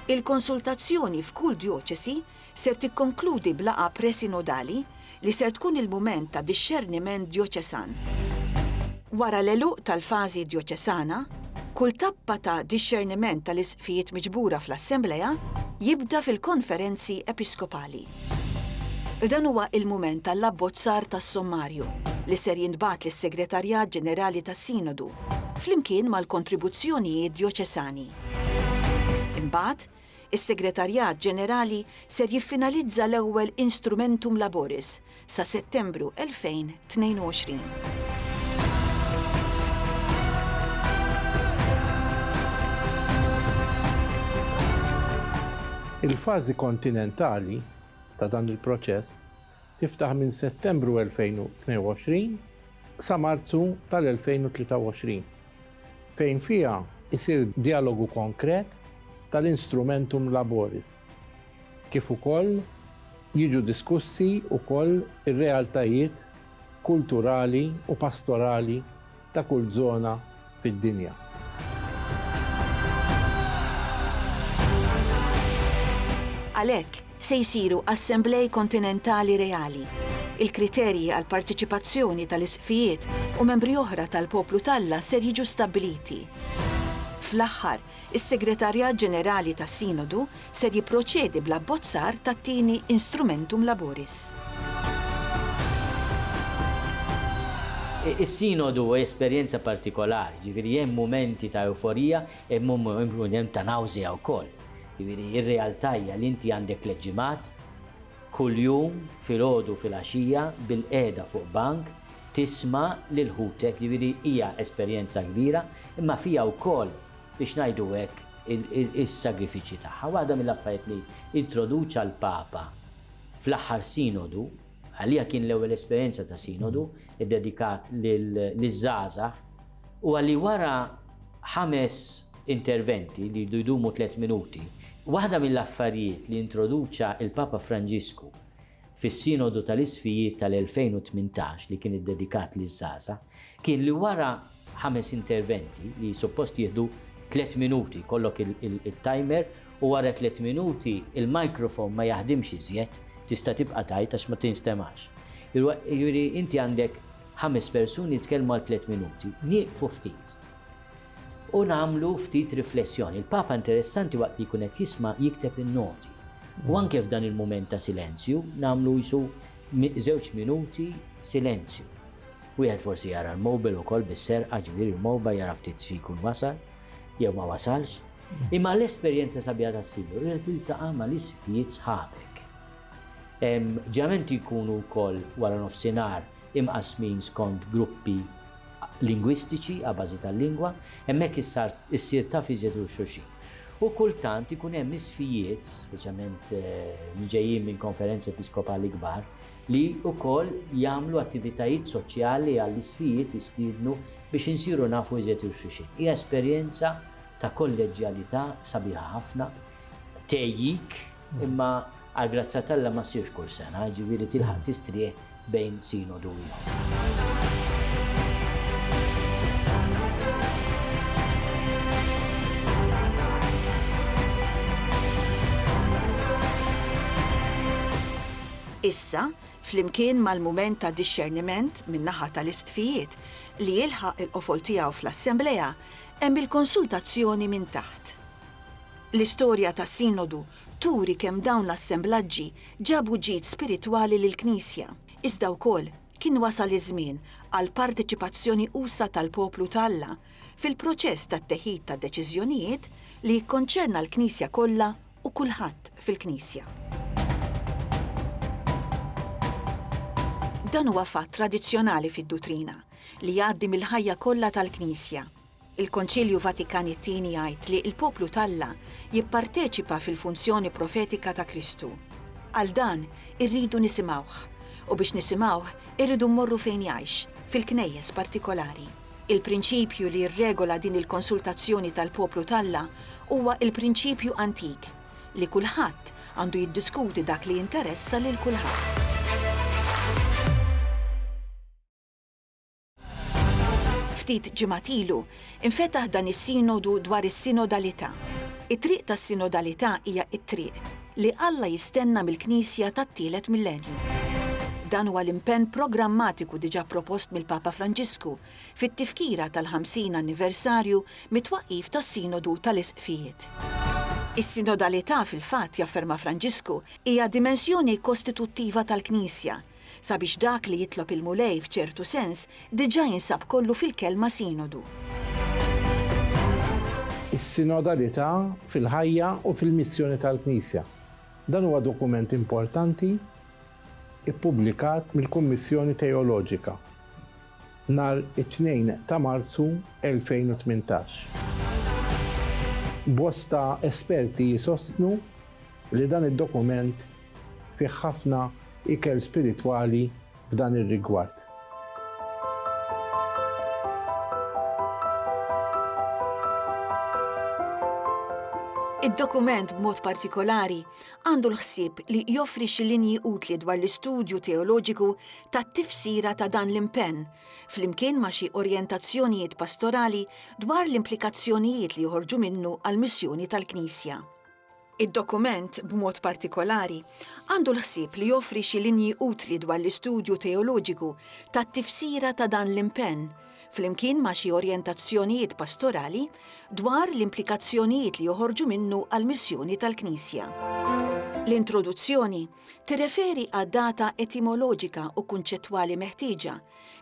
Il-konsultazzjoni f'kull djoċesi ser tikkonkludi b'laqgħa presinodali li ser tkun il-mument ta' dixxerniment djoċesan. Wara l-għeluq tal-fażi djoċesana, kull tappa ta' dixxerniment tal-Isqfijiet miġbura fl-Assemblea jibda fil-Konferenzi Episkopali. Dan huwa l-mument għall-abbozzar tas-sommarju, li ser jintbagħat lis-Segretarjat Ġenerali tas-Sinodu, flimkien mal-kontribuzzjonijiet djoċesani. Imbagħad, Is-Segretarjat Ġenerali ser jiffinalizza l-ewwel instrumentum laboris sa Settembru 2022. Il-fażi kontinentali ta' dan il-proċess tiftaħ minn Settembru 2022 sa Marzu tal-2023, fejn fiha jsir djalogu konkret tal-instrumentum laboris, kif ukoll jiġu diskussi wkoll ir-realtajiet kulturali u pastorali ta' kull żona fid-dinja. Għalhekk, se jsiru assemblej kontinentali reali. Il-kriterji għall-parteċipazzjoni tal-isqfijiet u membri oħra tal-poplu t'Alla ser jiġu stabbiliti. Fl-aħħar, Is-Segretarjat Ġenerali tas-Sinodu ser jipproċedi bl-abbozzar tat-tieni Instrumentum Laboris. Is-Sinodu huwa esperjenza partikolari, jiġifieri hemm mumenti ta' ewforija, hemm ta' nawżea wkoll. Jiġifieri r-realtà hija li inti għandek tliet ġimgħat, Kuljum filgħodu u filgħaxija bilqiegħda fuq bank tisma' lil ħutek, jiġifieri hija esperjenza kbira, imma fiha wkoll biex ngħidu hekk is-sagrifiċċji tagħha. Waħda mill-affarijiet li introduċa l-Papa fl-aħħar Sinodu, għalija kien l-ewwel esperjenza ta' Sinodu ddedikat liż-żgħażagħ, huwa li wara ħames interventi li jridu jdumu tliet minuti, waħda mill-affarijiet li introduċa l-Papa Franġisku fis-Sinodu tal-Isqfijiet tal-2018 li kien iddedikat liż-żgħażagħ kien li wara ħames interventi li suppost jieħdu tliet minuti, jkollok it-timer u wara tliet minuti l-microphone ma jaħdimx iżjed, tista' tibqa' tgħid għax ma tinstemax. Jiġifieri inti għandek ħames persuni jitkellmu għal tliet minuti, nieqfu ftit. U nagħmlu ftit riflessjoni. Il-Papa interessanti waqt li jkun qed jisma' jikteb in-noti. U anke f'dan il-mument ta' silenzju nagħmlu qisu żewġ minuti silenzju. Wieħed forsi jara l-mowbil ukoll bis-serqa, ġifieri l-mowba jara ftit xi jkun wasal jew ma wasalx. Imma l-esperjenza sabiħa tas-Sinjur hija li tiltaqa' mal-isfjiet sħabek. Ġeneralment jkunu wkoll wara nofsinhar imqassmin skont gruppi lingwistiċi a bażi tal-lingwa, hemmhekk issar issir taf iżjed lil xulxin. U kultant ikun hemm isfijiet, speċjalment li ġejjin minn konferenzi episkopali kbar, li wkoll jagħmlu attivitajiet soċjali għall-isfijiet jistiednu biex insiru nafu iżjed lil xulxin. Hija esperjenza ta' kolleġġjalità sabiħa ħafna, tgħejjik, Imma għal grazzja t'Alla ma ssirx kull sena, jiġifieri tilħaq tistrieħ bejn sinodu u ieħor. Issa, flimkien mal-mument ta' dixxerniment min-naħa tal-Isqfijiet li jilħaq il-qofol tiegħu fl-Assemblea, hemm il-konsultazzjoni minn taħt. L-istorja tas-Sinodu turi kemm dawn l-assemblaġġi ġabu ġid spiritwali lill-Knisja, iżda wkoll kien wasal iż-żmien għal parteċipazzjoni usa' tal-poplu ta' Alla fil-proċess tat-teħid ta' deċiżjonijiet li jikkonċerna l-Knisja kollha u kulħadd fil-Knisja. Dan huwa fatt tradizzjonali fid-dutrina li jgħaddi mill-ħajja kollha tal-Knisja. Il-Konċilju Vatikani t-Tieni jgħid li l-poplu t'Alla jipparteċipa fil-funzjoni profetika ta' Kristu. Għal dan, irridu nisimgħuh. U biex nisimgħuh, irridu mmorru fejn jgħix, fil-knejjes partikolari. Il-prinċipju li jirregola din il-konsultazzjoni tal-poplu t'Alla huwa l-prinċipju antik li kulħadd għandu jiddiskuti dak li jinteressa lil kulħadd. Ftit ġimgħat ilu, infetaħ dan is-Sinodu dwar is-Sinodalità. It-triq tas-Sinodalità hija t-triq li Alla jistenna mill-Knisja tat-tielet millenju. Dan huwa l-impenn programmatiku diġà propost mill-Papa Franġisku fit-tifkira tal-50 anniversarju mit-twaqqif tas-Sinodu tal-Isqfijiet. Is-Sinodalità, fil-fatt, jafferma Franġisku, hija dimensjoni kostituttiva tal-Knisja, Sabiex dak li jitlob il-Mulej f'ċertu sens diġà jinsab kollu fil-kelma Sinodu. Is-Sinodalità fil-ħajja u fil-missjoni tal-Knisja. Dan huwa dokument importanti ippubblikat mill-Kummissjoni Teoloġika nhar it-Tnejn ta' Marzu 2018. Bosta esperti jsostnu li dan id-dokument Fih ħafna ikel spiritwali f'dan ir-rigward. Id-dokument b'mod partikolari għandu l-ħsieb li joffri xi linji utli dwar l-istudju teoloġiku tat-tifsira ta' dan l-impenn, flimkien ma' xi orjentazzjonijiet pastorali dwar l-implikazzjonijiet li joħorġu minnu għall-missjoni tal-Knisja. Id-dokument, b'mod partikolari, għandu l-ħsieb li joffri xi linji utli dwar l-istudju teoloġiku tat-tifsira ta' dan l-impenn, flimkien ma' xi orjentazzjonijiet pastorali dwar l-implikazzjonijiet li joħorġu minnu għall-missjoni tal-Knisja. L-introduzzjoni tirreferi għad-data etimoloġika u kunċettwali meħtieġa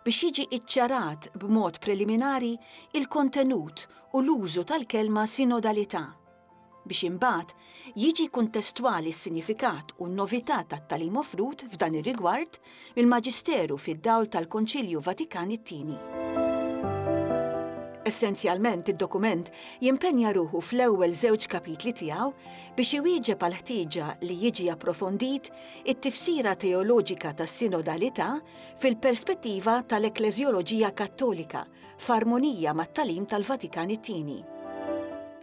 biex jiġi ċċarat b'mod preliminari l-kontenut u l-użu tal-kelma sinodalità. biex imbagħad jiġi kuntestwali s-sinjifikat u n-novità tat-tagħlim offrut f'dan ir-rigward mill-Maġisteru fid-dawl tal-Konċilju Vatikan it-Tieni. Essenzjalment id-dokument jimpenja ruħu fl-ewwel żewġ kapitli tiegħu biex iwieġeb għall-ħtieġa li jiġi approfondit it-tifsira teoloġika tas-sinodalità fil-perspettiva tal-ekkleżjoloġija Kattolika f'armonija mat-tagħlim tal-Vatikan it-Tieni.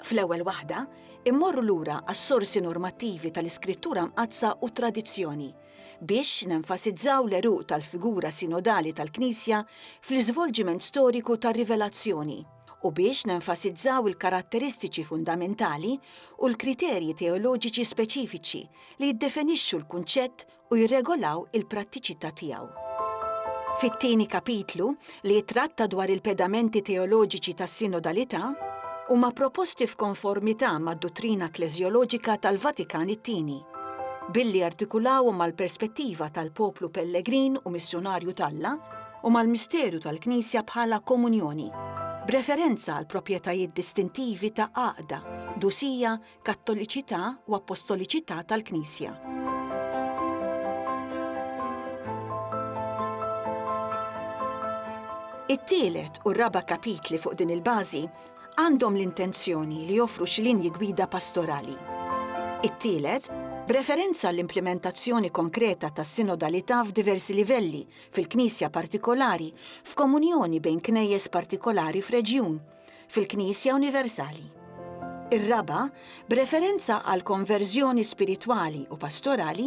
Fl-ewwel waħda, immorru lura għas-sorsi normattivi tal-Iskrittura Mqaddsa u t-tradizzjoni biex nenfasizzaw l-għeruq tal-figura sinodali tal-Knisja fl-iżvolġiment storiku tar-rivelazzjoni u biex nenfasizzaw il-karatteristiċi fundamentali u l-kriterji teoloġiċi speċifiċi li jiddefinixxu l-kunċett u jirregolaw il-prattiċità tiegħu. Fit-tieni kapitlu, li jittratta dwar il-pedamenti teoloġiċi tas-sinodalità, huma proposti f'konformità mad-duttrina ekkleżjoloġika tal-Vatikan it-Tieni, billi jartikulawhom mal-perspettiva tal-poplu pellegrin u missjunarju t'Alla u mal-misteru tal-Knisja bħala komunjoni, b'referenza għall-proprjetajiet distintivi ta' għaqda, dusija, Kattoliċità u Appostoliċità tal-Knisja. It-tielet u r-raba' kapitli fuq din il-bażi għandhom l-intenzjoni li joffru xi linji gwida pastorali. It-tielet, b'referenza l-implimentazzjoni konkreta ta' sinodalità f'diversi livelli, fil-knisja partikolari, f'komunjoni bejn knejjes partikolari f'reġjun, fil-Knisja universali. Ir-raba', b'referenza għall-konverżjoni spiritwali u pastorali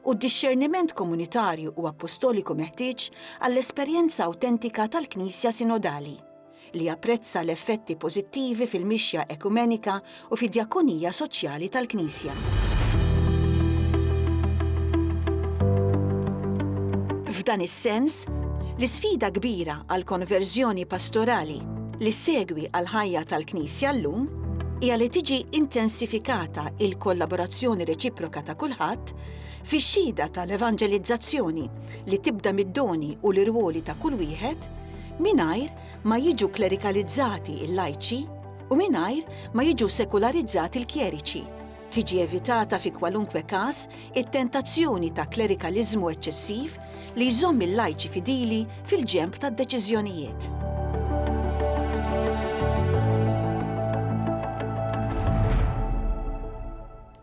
u d-dixxerniment komunitarju u appostoliku meħtieġ għall-esperjenza awtentika tal-Knisja sinodali, li japprezza l-effetti pożittivi fil-mixja ekumenika u fid-djakonija soċjali tal-Knisja. F'dan is-sens, l-isfida kbira għal konverżjoni pastorali li segwi għal ħajja tal-Knisja llum hija li tiġi intensifikata il-kollaborazzjoni reċiproka ta' kulħadd fix-xhieda tal-evanġelizzazzjoni li tibda mid-doni u l-irwoli ta' kull wieħed mingħajr ma jiġu klerikalizzati l-lajċi u mingħajr ma jiġu sekularizzati l-kjeriċi. Tiġi evitata fi kwalunkwe każ it-tentazzjoni ta' klerikaliżmu eċċessiv li jżomm il-lajċi fidili fil-ġenb tad-deċiżjonijiet.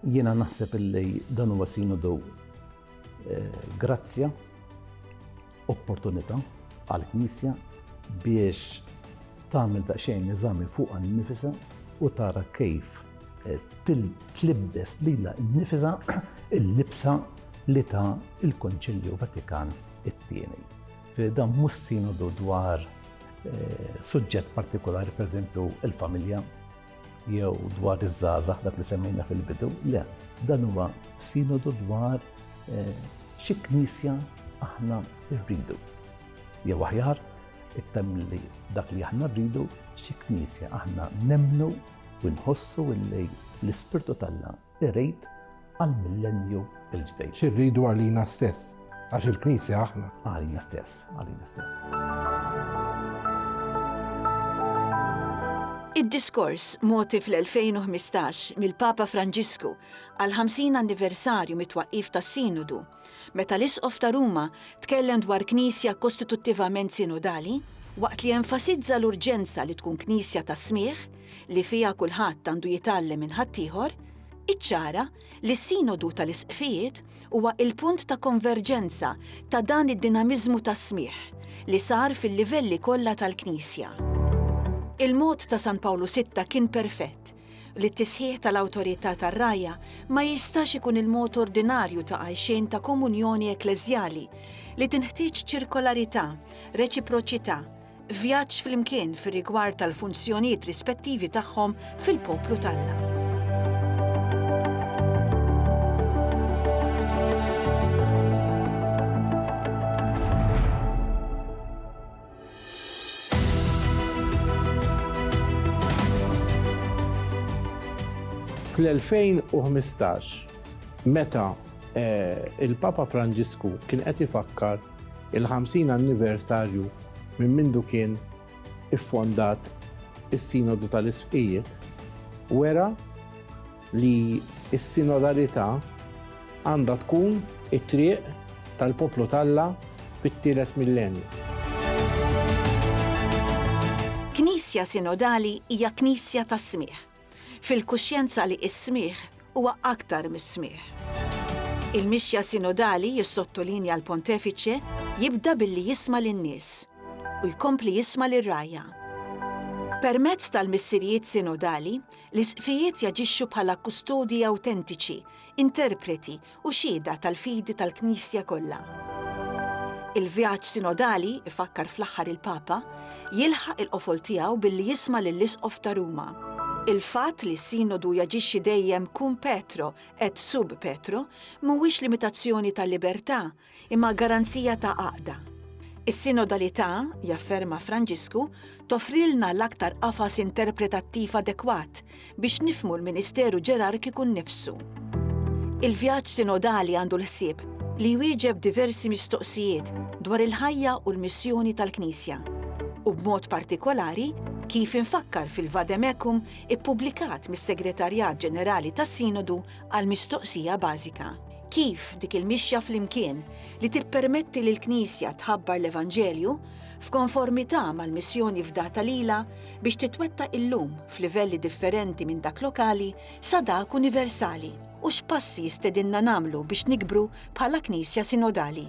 Jiena naħseb illi dan huwa sinodu eh, grazzja opportunità għall-Knisja biex tagħmel daqsxejn eżami fuqha nnifisha u tara kif eh, tlibbes lilha nnifisha il-libsa li ta' il-Konċilju Vatikan it-tieni. Dan mhux sinodu dwar eh, suġġett partikolari, pereżempju il-familja, jew dwar iż-żgħażagħ dak li semmejna fil-bidu, le, dan huwa sinodu dwar eh, xi knisja aħna rridu. Jew aħjar, ittem li dak li aħna rridu xi knisja aħna nemnu u nħossu illi l-ispirtu tal-la irid għall-millennju l-ġdid. Xi rridu għalina stess, għax il-Knisja aħna. Għalina stess, għalina stess. Id-diskors moti fl-2015 mill-Papa Franġisku għal 50 anniversarju mit-twaqqif tas-Sinodu Meta l-Isqof ta' Ruma tkellem dwar Knisja kostituttivament sinodali, waqt li enfasizza l-urġenza li tkun Knisja ta' smigħ, li fiha kulħadd għandu jitgħallem minn ħaddieħor, iċċara li s-Sinodu tal-Isqfijiet huwa il-punt ta' konverġenza ta' dan id-dinamiżmu tas-smigħ li sar fil-livelli kollha tal-Knisja. Il-mod ta' San Pawlu Sitta kien perfett, li t-tisħiħ tal-awtorità tar-rgħajja ma jistax ikun il-mod ordinarju ta' għajxien ta' komunjoni ekkleżjali, li tinħtieġ ċirkolarità, reċiproċità, vjaġġ flimkien fir-rigward tal-funzjonijiet rispettivi tagħhom fil-poplu t'Alla. Fl-2015, meta il-Papa Franġisku kien qed ifakkar il-50 anniversarju minn mindu kien iffondat is-Sinodu tal-Isqfijiet, wera, li s-sinodalità għandha tkun it-triq tal-poplu t'Alla fit-tielet millenju. Knisja sinodali hija knisja tas-smigħ, fil-kuxjenza li s-smigħ huwa aktar mis-smigħ. Il-mixja sinodali, jissottolinja l-Pontefiċe, jibda billi jisma' lin-nies u jkompli jisma' lir-rgħajja. Permezz tal-missirijiet sinodali, L-isqfijiet jaġixxu bħala kustodji awtentiċi, interpreti u xhieda tal-fidi tal-Knisja kollha. Il-vjaġġ sinodali, ifakkar fl-aħħar il-Papa, jilħaq il-qofol tiegħu billi jisma' lill-Isqof ta' Ruma. Il-fatt li s-Sinodu jaġixxi dejjem cum petro et sub petro mhuwiex limitazzjoni tal-libertà, imma garanzija ta' għaqda. Is-sinodalità, jafferma Franġisku, toffrilna l-aktar qafas interpretattiv adekwat biex nifhmu l-ministeru ġerarkiku nnifsu. Il-vjaġġ sinodali għandu l-ħsieb li jwieġeb diversi mistoqsijiet dwar il-ħajja u l-missjoni tal-Knisja, u b'mod partikolari kif imfakkar fil-Vade Mecum ippubblikat mis-Segretarjat Ġenerali tas-Sinodu għall-mistoqsija bażika, kif dik il-mixja flimkien li tippermetti lill-Knisja tħabbar l-Evanġelju f'konformità mal-missjoni fdata lilha biex titwettaq illum f'livelli differenti minn dak lokali sa dak universali u x'passi jistedinna nagħmlu biex nikbru bħala Knisja Sinodali.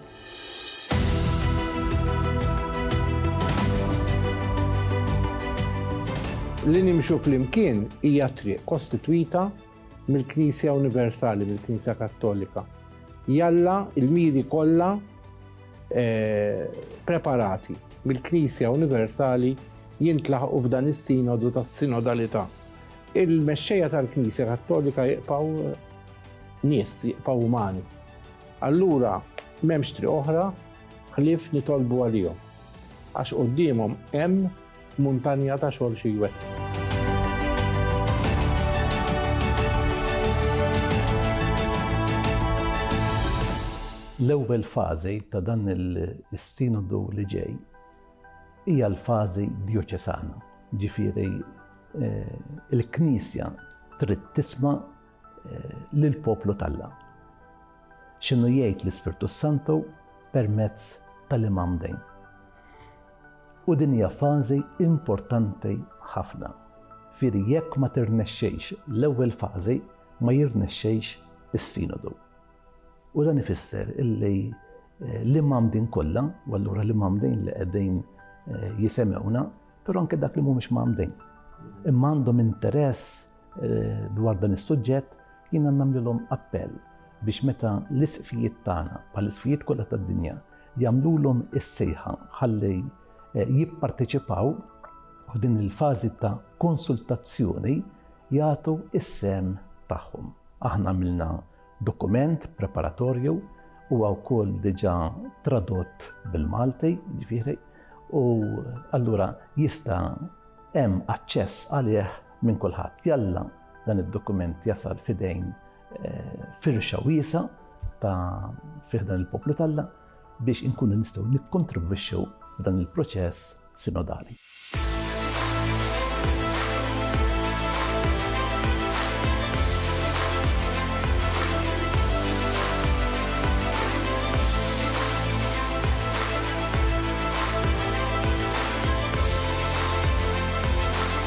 Li nimxu flimkien hija triq kostitwita mill-Knisja Universali, mill-Knisja Kattolika. Jalla il-miri kollha eh, preparati mill-Knisja Universali jintlaħqu f'dan is-sinodu tas-sinodalità. Il-mexxejja tal-Knisja Kattolika jiqpaw eh, nies, jiqpaw umani. Allura m'hemmx triq oħra ħlief nitolbu għalihom. Għax qudiemhom hemm Muntanja ta' xogħol xi jwettqu. L-ewwel fażi ta' dan is-Sinodu li ġej hija l-fażi djoċesana, jiġifieri l-Knisja trid tisma' lill-poplu t'Alla. X'inhu jgħid l-Ispirtu s-Santu permezz tal-Imam Dejn. U din hija fażi importanti ħafna. Fieri jekk ma tirnexxejx l-ewwel fażi ma jirnexxejx is-Sinodu. U dan ifisser illi eh, l-Imam Din kollha, u allura l-Imam Din li qegħdin eh, jisemewna, però anke dak li mhumiex mamdin. Imma għandhom interess Eh, dwar dan is-suġġett jiena nagħmlilhom appell biex meta l-isqfijiet tagħna bħal isqfijiet kollha tad-dinja jagħmlulhom is-sejħa ħalli eh, jipparteċipaw f'din il-fażi ta' konsultazzjoni jagħtu is-sem tagħhom. Aħna għamilna dokument preparatorju u wkoll diġà tradott bil-Malti, ġifieri, u allura jista' hemm aċċess għalih minn kulħadd. Jalla dan id-dokument jasal fidejn eh, firxa wiesa ta' fiħdan il-poplu talla biex inkunu nistgħu nikkontribwixxu dan il-proċess sinodali.